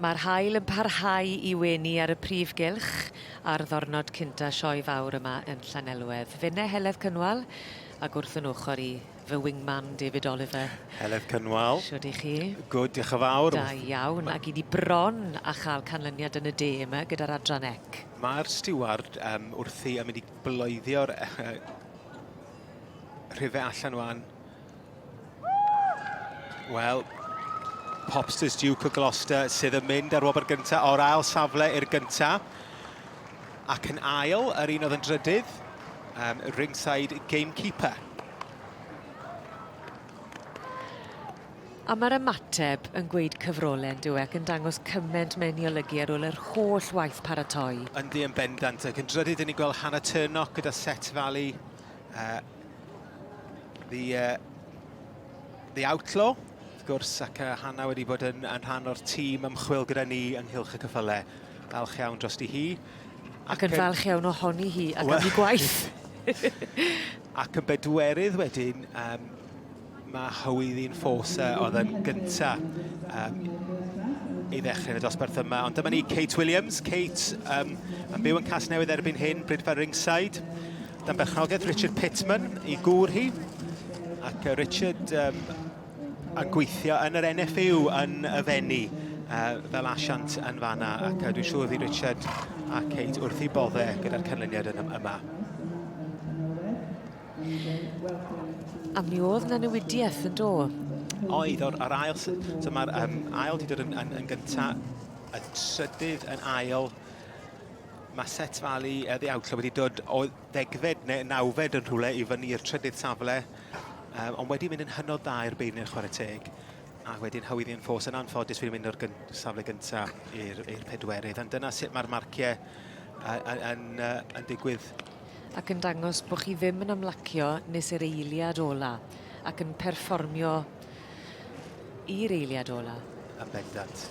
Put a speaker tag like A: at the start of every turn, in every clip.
A: Mae'r haul yn parhau i wenu ar y prif gylch ar ddornod cynta' Sioe Fawr yma yn Llanelwedd. Finne Heledd Cynwal, ag wrth yn ochr i, fy wingman David Oliver. Heledd Cynwal.
B: Shwd i chi?
A: Gwd, diolch yn fawr.
B: Da iawn, ac i ni
A: bron a chael canlyniad yn y de yma gyda'r adran ec. Mae'r stiward
B: um, wrthi yn mynd i bloeddio rhife allan wan. Wel, Popsters Duke o Gloucester sydd yn mynd ar wobr gyntaf o'r ail safle i'r gyntaf. Ac yn ail, yr un oedd yn drydydd, um, ringside gamekeeper.
A: A mae'r ymateb yn gweud cyfrolen, dyw e, ac yn dangos cyment mewn i olygu ar ôl yr holl waith paratoi. Yndi yn bendant,
B: ac yn drydydd, dyn ni'n gweld Hannah Turnock gyda Set Valley Uh, the, uh, the Outlaw, wrth gwrs, ac uh, Hanna wedi bod yn, yn rhan o'r tîm ymchwil gyda ni ynghylch y cyffyle. Falch iawn drosti hi. Ac, ac yn
A: falch iawn ohoni hi ac am ei gwaith.
B: ac yn bedwerydd wedyn, um, Mae Hywyddi'n Force oedd yn gynta um, i ddechrau y dosbarth yma. Ond dyma ni Kate Williams. Kate um, yn byw yn Casnewydd erbyn hyn, Brydfa Ringside. Dan berchnogaeth Richard Pittman i gŵr hi. Ac uh, Richard um, yn gweithio yn yr NFU yn y fenni uh, fel asiant yn fanna. Ac uh, dwi'n siŵr fi Richard a Kate wrth i bodde gyda'r canlyniad yn yma.
A: A mi oedd yna newidiaeth yn do? Oedd, o'r,
B: o'r ail... So mae'r um, ail di dod yn, yn, yn gynta, y trydydd yn ail. Mae set falu uh, the outlaw wedi dod o ddegfed neu nawfed yn rhywle i fyny i'r trydydd safle. Um, ond wedi mynd yn hynod dda i'r beirniad chwarae teg. A wedyn hawyddi yn ffos yn anffodus wedi mynd o'r gyn, safle gyntaf i'r pedwerydd. Ond dyna sut mae'r marciau yn, yn, yn digwydd ac yn dangos
A: bod chi ddim yn ymlacio nes i'r eiliad ola, ac yn perfformio i'r eiliad ola. Yn bendant.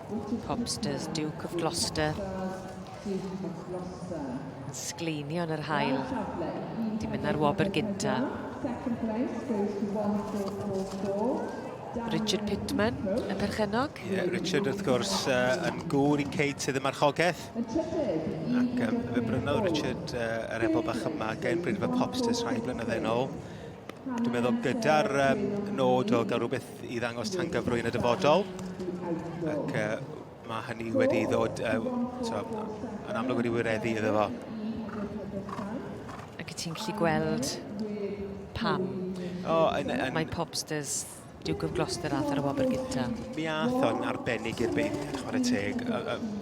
C: Copsters, Duke of
A: Gloucester. Sgleinion yr hael. Di mynd ar wobr gynta.
C: Richard
A: Pittman, y perchennog. Yeah, Richard, wrth gwrs,
B: uh, yn gŵr i Kate sydd y marchogaeth. Ac um, fe brynodd Richard uh, yr ebol bach yma gen Brynfa Popsters rhai blynyddoedd yn ôl. Dwi'n meddwl gyda'r um, nod o gael rhywbeth i ddangos tangyfrwy yn y dyfodol. Ac uh, mae hynny wedi i ddod uh, so, yn amlwg wedi wireddu iddo fo.
A: Ac y ti'n gallu gweld pam oh, yn, yn... mae Popsters Duke of Gloucester ath ar y wobr gynta. Mi ath o'n
B: arbennig i'r byd, chwarae teg,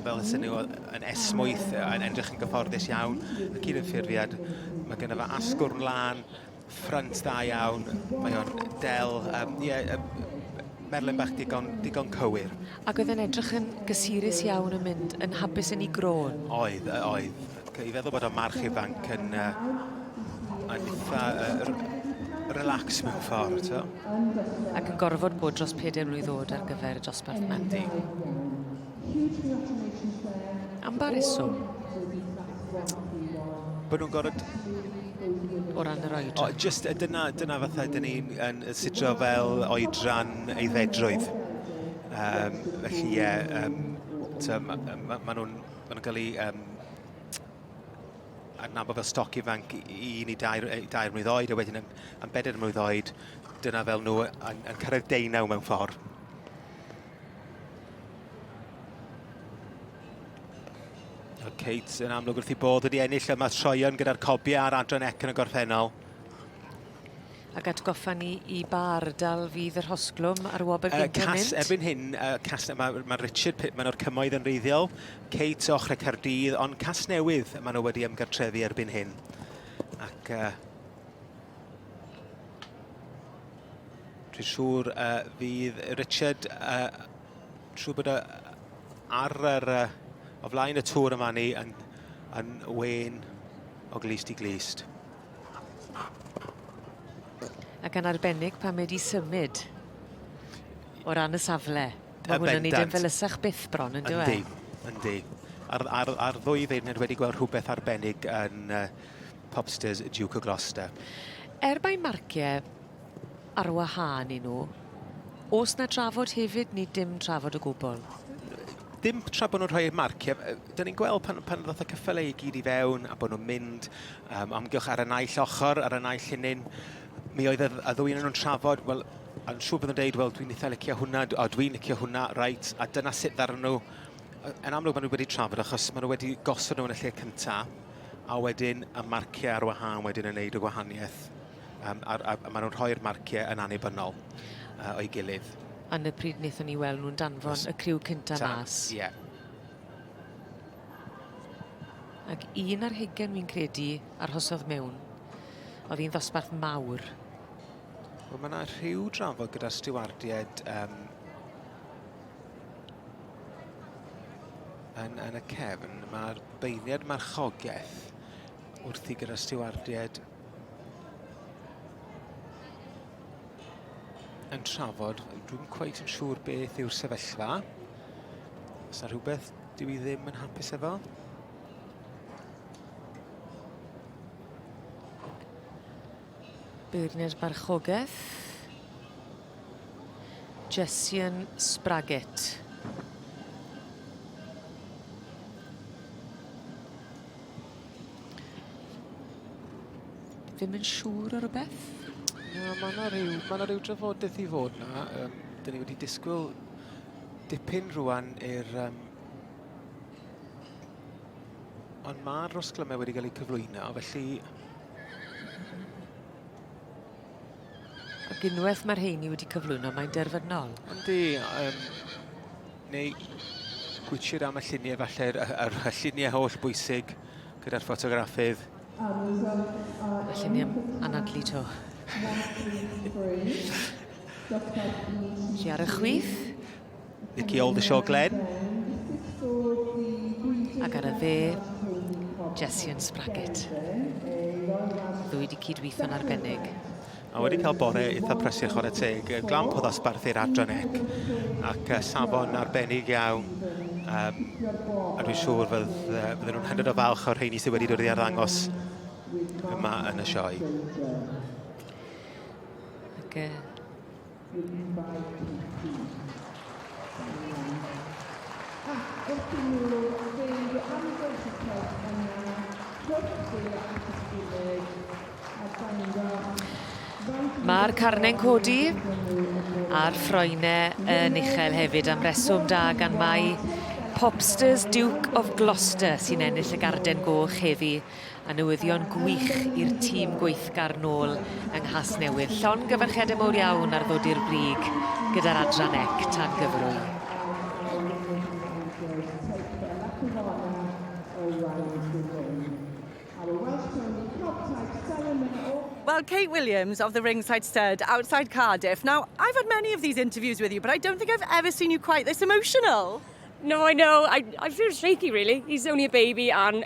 B: fel ysyn nhw yn esmwyth, yn edrych yn gyfforddus iawn, ac un yn ffurfiad, mae gen fo asgwrn lan, Ffrynt da iawn, mae o'n del, um, yeah, um, merlyn bach digon, digon cywir. Ac oedd yn edrych yn
A: gysurus iawn yn mynd yn hapus yn ei grôn. Oedd, oedd.
B: I feddwl bod o'n march ifanc yn, uh, yn eitha uh, relax mewn ffordd. So. Ac
A: yn gorfod bod dros 4 mlynedd oed ar gyfer y dosbarth yma. Yndi. Am ba reswm?
B: Bod nhw'n gorfod...
A: O ran yr oedran? O, just, dyna, dyna
B: fatha dyn ni'n yn sidro fel oedran eiddfedrwydd. Um, felly, ie, yeah, um, so, ma, ma, ma nhw'n ma nhw cael ei um, adnabod fel stoc ifanc i ni dair, dair mlynedd oed, a wedyn yn, yn bedair mlynedd oed, dyna fel nhw yn, yn cyrraedd deunaw mewn ffordd. Kate yn amlwg wrth i bod wedi ennill yma troion gyda'r cobiau ar adran ec yn y gorffennol. Ac
A: atgoffa ni i ba ardal fydd yr hosglwm ar wobr uh, gyntaf cas, mynd? Erbyn hyn, uh, cas,
B: mae, mae Richard Pitman o'r cymoedd yn reiddiol, Kate o Chrecardydd, ond cas newydd maen nhw wedi ymgartrefu erbyn hyn. Ac uh, Dwi'n siŵr uh, fydd Richard uh, siŵr bod ar yr, uh, o flaen y tŵr yma ni yn, yn wen o glist i glist.
A: Ac yn arbennig pan mae wedi symud o ran y safle. Mae hwn yn ei ddim fel ysach byth bron yn dweud. Yndi, yndi.
B: Ar, ar, ar ddwy ddeirned wedi gweld rhywbeth arbennig yn, uh, Popsters Duke o Gloucester. Er mae
A: marciau ar wahân i nhw, os na trafod hefyd, ni dim trafod o gwbl dim
B: tra bod nhw'n rhoi eu marciau, dyn ni'n gweld pan, pan ddoth y cyffylau i gyd i fewn a bod nhw'n mynd um, amgylch ar y naill ochr, ar y naill hynny'n, mi oedd y, y ddwy yn nhw'n trafod, wel, yn siŵr bod nhw'n dweud, wel, dwi'n eitha licio hwnna, o, dwi'n licio hwnna, reit, a dyna sut ddarn nhw. Yn amlwg, maen nhw wedi trafod, achos maen nhw wedi gosod nhw yn y lle cyntaf. a wedyn y marciau ar wahân wedyn yn neud y gwahaniaeth. Um, a, a, a maen nhw'n rhoi'r marciau yn annibynnol uh, o'i gilydd. Yn y pryd wnaethon
A: ni weld nhw'n danfon y criw cynta mas. Ie. Yeah. Ac un ar hugen fi'n credu arhosodd mewn. Oedd hi'n ddosbarth mawr.
B: Wel, mae yna rhyw drafod gyda stiwardiaid um, yn, yn y cefn, mae'r beirniad marchogaeth wrthi gyda'r stiwardiad yn trafod. Dwi'n cweith yn siŵr beth yw'r sefyllfa. Os yna rhywbeth dwi i ddim yn hapus efo?
A: Beirniaid Marchogaeth. Jessian Spraggett. Ddim yn siŵr o rhywbeth? Na, mae yna
B: rhyw, ma rhyw drafodaeth i fod yna. Um, Dyna ni wedi disgwyl dipyn rwan i'r... Um, ond mae'r rosglymau wedi cael eu cyflwyno, felly
A: Ac unwaith mae'r heini wedi cyflwyno, mae'n derfynol. Yndi, um,
B: neu gwitchir am y lluniau falle, a'r lluniau holl bwysig gyda'r ffotograffydd.
A: Y lluniau anadlu to. Chi ar y chwith? Nicky
B: Oldershaw Glenn.
A: Ac ar y dde, Jessian Spraggett. Ddwy di cydweithio'n arbennig. A wedi cael
B: bore eitha prysur chwarae teg, glamp o ddosbarth i'r adran ec, ac safon arbennig iawn. A, a dwi'n siŵr fydd, fydden nhw'n hynod o falch o'r rheini sydd wedi dod i arddangos yma yn y sioe.
A: Ac, uh, Mae'r carne'n codi a'r ffroenau yn uchel hefyd am reswm da gan mai Popsters Duke of Gloucester sy'n ennill y garden goch heddi. A newyddion gwych i'r tîm gweithgar nôl yng Nghasnewydd. Llongyfarchiadau mowr iawn ar ddod i'r brig gyda'r adran ec tan gyfrwy.
D: Well, Kate Williams of the Ringside Stud outside Cardiff. Now, I've had many of these interviews with you, but I don't think I've ever seen you quite this emotional. No, I know.
E: I, I feel shaky, really. He's only a baby, and